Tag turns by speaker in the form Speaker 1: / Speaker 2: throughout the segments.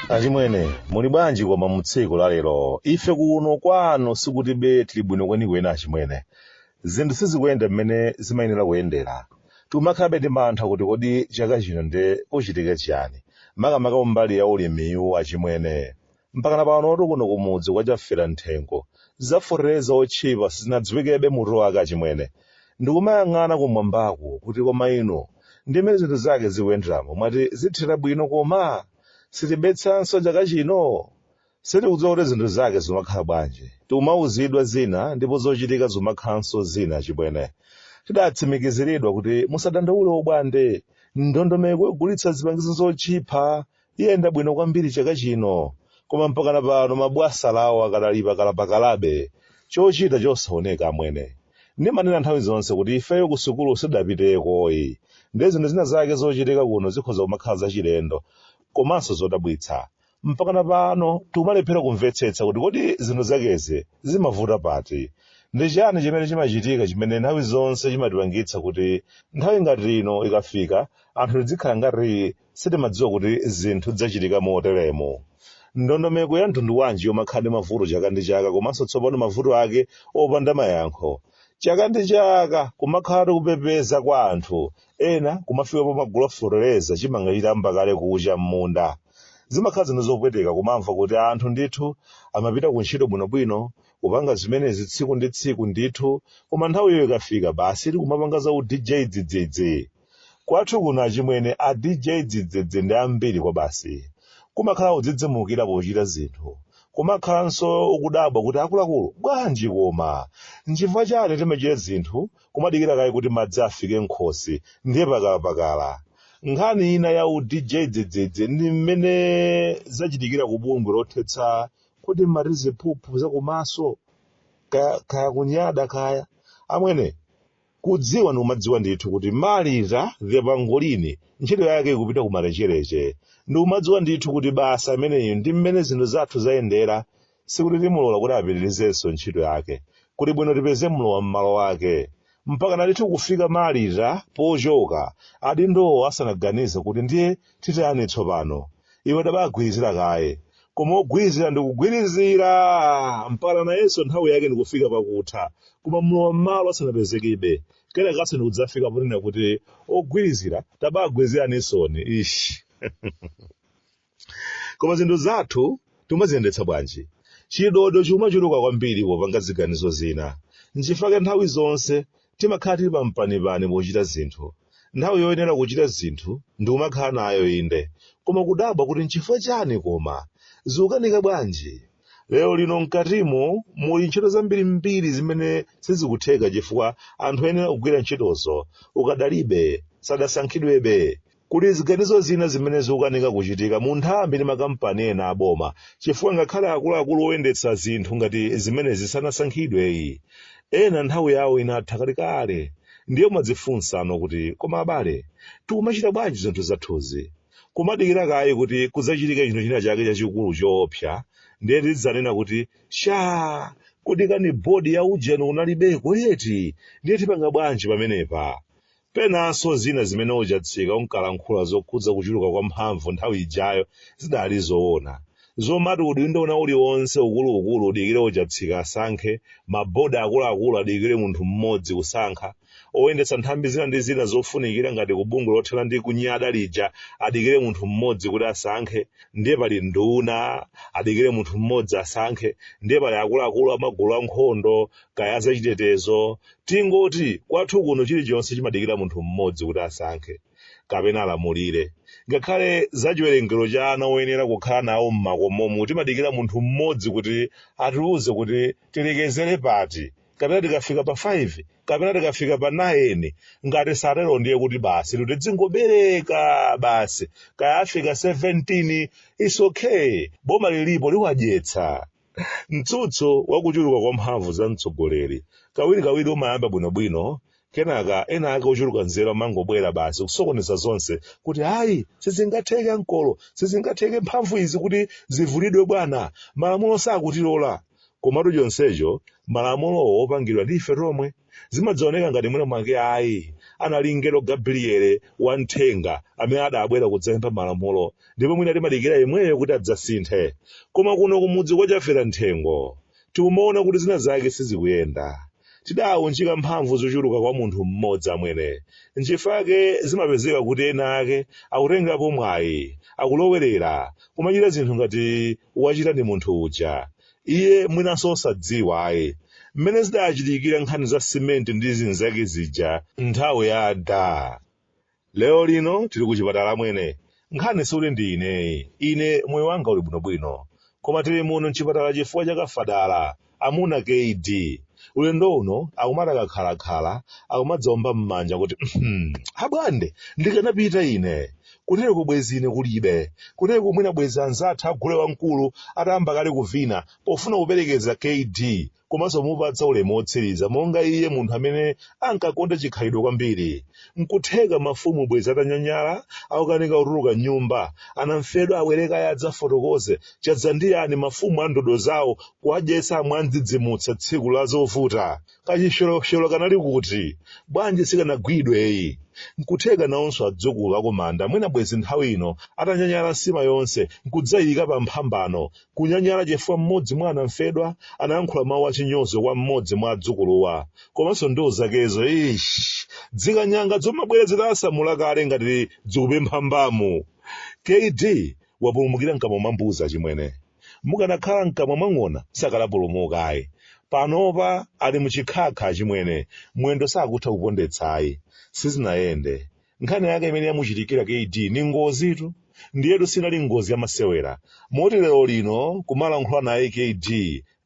Speaker 1: achimwene muli bwanji koma mu tsiku la lero ife kuno kwanu sikutibe tili bwino kwenikweni achimwene zinthu sizikuyenda mmene zimayenera kuyendera tikumakhalabe ndi mantha kuti kodi chaka chino nde kuchitike chiyani makamaka kumbali ya ulimiwu achimwene mpakana panotu kuno kumudzi kwa chafera mitengo ya fetereza otchipa siinadziwikebe mutu wake achimwene ndikumayang'ana kumwambaku kuti koma inu ndi mmene zinthu zake zikuyenderamo mwati zithera bwino koma si tibetsanso chaka chino sitikudziwa kuti zinthu zake zikumakhala bwanji tikumauzidwa zina ndipo zochitika zikumakhalanso zina achimwene tidatsimikiziridwa kuti musadandaule ubwande ndondomeko yogulitsa zipangizo zotchipa Iyenda bwino kwambiri chaka chino koma mpakana pano mabwana awo akadali pakalapakalabe, chochita chosaoneka, amwene. Ndimanena nthawi zonse kuti ifeyo kusukulu sitidapiteko ayi ndiye zinthu zina zake zochitika kuno zikhoza kumakhala zachilendo komanso zodabwitsa. Mpakana pano tikumalephera kumvetsetsa kuti kodi zinthu zakezi zimavuta pati? Ndi chiyani chimene chimachitika chimene nthawi zonse chimatipangitsa kuti nthawi ngati ino ikafika anthu tidzikhala ngati Sitimadziwa kuti zinthu zidzachitika moteremu. Ndondomeko ya mtundu wanji yomakhala ndi mavuto chaka ndi chaka komanso tsopano mavuto ake opanda mayankho? Chaka ndi chaka kumakhalatu kupepeza kwa anthu. Ena kumafika pomagula fetereza chimanga chitayamba kale kucha m'munda. Zimakhala zinthu zopweteka kumamva kuti anthu ndithu amapita ku ntchito bwinobwino, kupanga zimenezi tsiku ndi tsiku ndithu, koma nthawiyo ikafika basitu kumapanga za u DJ dzidzidzi. Kwathu kuno achimwene a DJ Dzidzidzi ndi ambiri kwabasi. Kumakhala kudzidzimukira pochita zinthu. Kumakhalanso ukudabwa kuti akuluakulu bwanji koma? Nchifukwa chiyani timachita zinthu kumadikira kaye kuti madzi afike m'khosi ndiye pakalapakala? Nkhani ina ya u DJ Dzidzidzi ndi mmene zachitikira ku bungwe lothetsa kodi mmati ziphuphu zakumaso kaya, kaya kunyada kaya. Amwene, Kudziwa ndikumadziwa ndithu kuti Marita the pangolini ntchito yake ikupita kumalecheleche. Ndikumadziwa ndithu kuti basi ameneyu ndi m'mene zinthu zathu zayendera sikuti timulola kuti apitirizenso ntchito yake. Kuli bwino, tipeze mlowa mmalo wake. Mpakana ndithu kufika Marita pochoka adindowo asanaganize kuti ndiye titani tsopano. Iwe tabagwirizira kaye. koma ogwirizira ndikugwirizira mpaka nayenso nthawi yake ndikufika pakutha koma mlowa mmalo asanapezekebe kenakanso ndikudzafika ponena kuti ogwirizira tabagwiriziraninsoni ishi koma zinthu zathu timaziyendetsa bwanji chidodo chimachuluka kwambiri popanga ziganizo zina nchifukwa nthawi zonse Timakhala tili pa mpanipani pochita zinthu. Nthawi yoyenera kuchita zinthu ndikumakhala nayo inde, koma kudabwa kuti nchifukwa chani koma? Zikukanika bwanji? Lero lino mkatimu muli ntchito zambirimbiri zimene sizikutheka chifukwa anthu oyenera kugwira ntchitozo ukadalibe, sadasankhidwebe. Kuli ziganizo zina zimene zikukanika kuchitika mu nthambi ndi makampani ena a boma chifukwa ngakhale akuluakulu oyendetsa zinthu ngati zimenezi sanasankhidweyi. Ena nthawi yawo inatha kalekale. Ndiye umadzifunsano kuti koma abale, tikumachita bwanji zinthu zathuzi? Kumadikira kaye kuti kudzachitike chinthu china chake chachikulu choopsa ndiye tidzanena kuti, shaa! Kodi kani board ya ujeni kunalibeko eti? Ndiye tipanga bwanji pamenepa? Penanso zina zimene Ojatsika unkalankhula zokhudza kuchuluka kwa mphamvu nthawi ijayo zidali zoona. Zomati udindo wina uliwonse ukuluukulu udikire Ojatsika asankhe, ma board akuluakulu adikire munthu mmodzi kusankha, oyendetsa nthambi zina ndi zina zofunikira ngati ku bungwe lothana ndi kunyada lija adikire munthu mmodzi kuti asankhe, ndiye pali nduna adikire munthu mmodzi asankhe, ndiye pali akuluakulu a magulu ankhondo, kaya azachitetezo tingoti kwathu kuno chilichonse chimadikira munthu mmodzi kuti asankhe kapena alamulire ngakhale za chiwerengero cha ana oyenera kukhala nawo mmakomomu timadikira munthu mmodzi kuti atiuze kuti tilekezere pati kapena tikafika pa 5 kapena tikafika pa 9 ngati satero ndiye kuti basi tidzingobereka basi kaya afika 17 is okay boma lilipo liwadyetsa mtsutso wa kuchuluka kwa mphamvu za mtsogoleri kawirikawiri umayamba bwinobwino kenaka ena ake ochuluka nzeru amangobwera basi kusokoneza zonse kuti ayi sizingatheke ankolo sizingatheke mphamvu izi kuti zivulidwe bwana malamulo sakutilola komatu chonsecho malamulowo opangidwa ndi ife tomwe zimadzaoneka ngati mwina mwake ayi anali mngelo gabriele wamthenga amene adabwera kudzapempha malamulo ndipo mwina timadikira yemweyo kuti adzasinthe koma kuno kumudzi kwa chafera mthengo tikumaona kuti zina zake sizikuyenda tidaunjika mphamvu zochuluka kwa munthu mmodzi amwene nchifake zimapezeka kuti ena ake akutengerapo mwayi akulowerera kumachita zinthu ngati wachita ndi munthu uja, iye mwinanso osadziwa ayi, mmene zidachitikira nkhani za simenti ndi zinzake zija nthawi ya adaa. Lero lino tili kuchipatala amwene, nkhani sikuti ndi ineyi, ine moyo wanga uli bwinobwino, koma tili muno m'chipatala chifukwa cha kafadala. Amuna kd ulendo uno akumati akakhala khala akumadzaomba mmanja kuti hmm abwande ndikanapita ine kutereku bwezi ine kulibe kutereku mwina bwezi anzathu agule wamkulu atayamba kale kuvina pofuna kuperekeza kd komanso kumupatsa ulemu wotsiriza monga iye munthu amene ankakonda chikhalidwe kwambiri Nkutheka mafumu bwezi atanyanyala akukanika kutuluka mnyumba. Anamfedwa abwere kaye adzafotokoze. Chadza ndi yani mafumu a ndodo zawo kuwadyetsa mwandzidzimutsa tsiku la zovuta. Kachipsyolopsyolo kanali kuti? Bwanji sikanagwidwe ayi? Nkutheka nawonso adzukulu akumanda mwina bwezi nthawi ino atanyanyala nsima yonse nkudzaiika pa mphambano. Kunyanyala chifukwa m'modzi mwa anamfedwa anayankhula mawu achinyozo kwa m'modzi mwa adzukuluwa. Komanso ndiwo zakezo eeish! Zikanyanga zomabwera zitasamula kale ngati zikupempha mbamu. Kd wapulumukira mkamwa mwa mbuzi achimwene. Mukanakhala mkamwa mwa ng'ona sakanapulumuka ayi. Panopa ali mu chikhakha achimwene, mwendo sakutha kupondetsa ayi. Sizinayende. nkhani yake imene yamuchitikira kd ndi ngozitu ndiyetu sinali ngozi yamasewera moti lero lino kumalankhula naye kd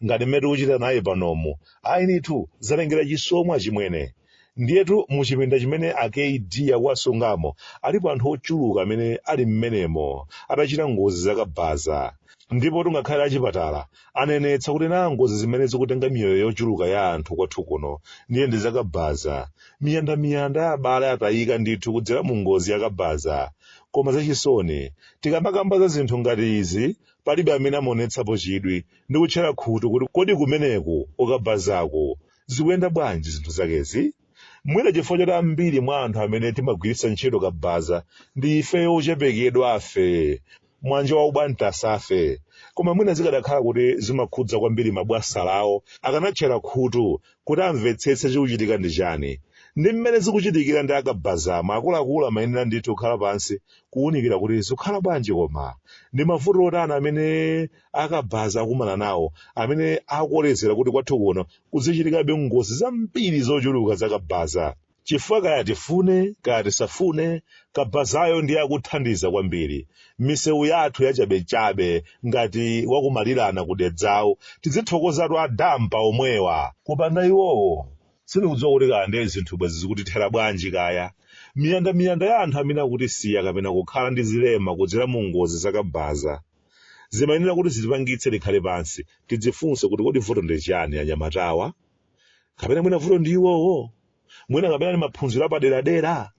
Speaker 1: ngati mmene tikuchita naye panomu ayinitu zalengera chisomo achimwene ndiyetu mu chipinda chimene a kd akuwasungamo alipo anthu ochuluka amene ali mmenemo atachita ngozi zakabaza ndipo tu ngakhale achipatala anenetsa kuti nazo ngozi zimene zikutenga miyoyo yochuluka ya anthu kwathu kuno ndiye ndi zakabaza miyandamiyanda ya abale atayika ndithu kudzera mu ngozi yakabaza koma zachisoni tikamakamba za zinthu ngati izi palibe amene amaonetsapo chidwi ndi kutchera khutu kuti kodi kumeneku kukabazaku zikuyenda bwanji zinthu zakezi Mwina chifukwa choti ambiri mwa anthu amene timagwiritsa ntchito kabaza ndi ifeyo ochepekedwafe, mbanja la ubanthu asafe. Koma mwina zikadakhala kuti zimakhudza kwambiri mabwanawo, akanatchera khutu kuti amvetsetse chikuchitika ndi chani. Ndi mmene zikuchitikira ndi akabazamo, akuluakulu amayenera ndithu kukhala pansi kuwunikira kuti zikukhala bwanji koma. Ndi mavuto otani amene akabhaza akumana nawo amene akukolezera kuti kwathu kuno kuzichitikabe ngozi zambiri zochuluka za kabhaza chifukwa kaya tifune kaya tisafune kabhazayo ndiye akuthandiza kwambiri misewu yathu yachabechabe ngati wakumalirana kudedzawo tizithokozatu adampa omwewa kupanda iwowa sindikudziwa kuti kaya ndiye zinthu bwezi zikutithera bwanji kaya miyandamiyanda ya anthu amene akutisiya kapena kukhala ndi zilema kudzera mu ngozi zakabhaza zimayenera kuti zitipangitse tikhale pansi tidzifunse kuti kodi vuto ndi chiyani anyamatawa kapena mwina vuto ndi iwowo mwina kapena ndi maphunziro apaderadera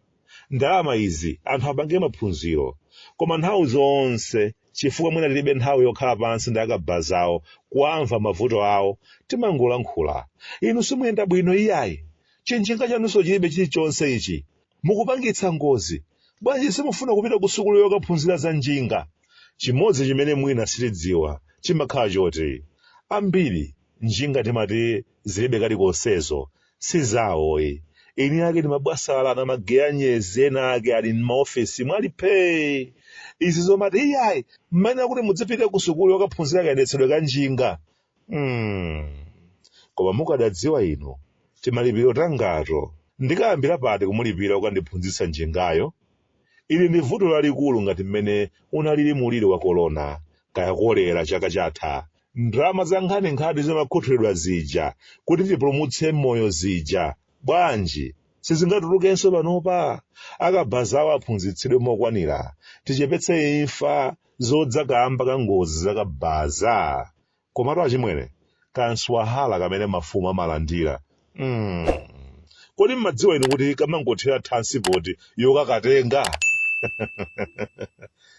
Speaker 1: ndalamazi anthu apange maphunziro koma nthawi zonse chifukwa mwina tilibe nthawi yokhala pansi ndi akabaza awo kuamva mavuto awo timangolankhula inu simuyenda bwino iyayi chinjinga chanunso chilibe chilichonse ichi Mukupangitsa ngozi. Bwanji simufuna kupita ku sukulu yokaphunzira za njinga? Chimodzi chimene mwina sitidziwa chimakhala choti ambiri njinga tikumati zilibe kalikonsezo si zawoyi. Eni ake ndi mabwana, ma geya eni eni ake ali m'maofesimu ali phee! Izi zomati iyayi mmayenera kuti mudzipite ku sukulu yokaphunzira kayendetsedwe ka njinga Mm. koma mukadadziwa inu timalipiro tangato ndikayambira pati kumulipira ukandiphunzitsa njingayo ili ndi vuto lalikulu ngati mmene unalili muliri wa korona kaya kolera chaka chatha ndalama za nkhaninkhani zimakhuthulidwa zija kuti tipulumutse moyo zija bwanji sizingatulukenso panopa akabazawo aphunzitsidwe mokwanira tichepetse imfa zodza kaamba ka ngozi za kabaza. Komatu achimwene, ka mswahala kamene mafumu amalandira, mm, kodi mmadziwa inu kuti kamangothera thansipoti yokakatenga?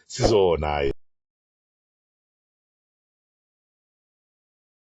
Speaker 1: Sizoona ayi.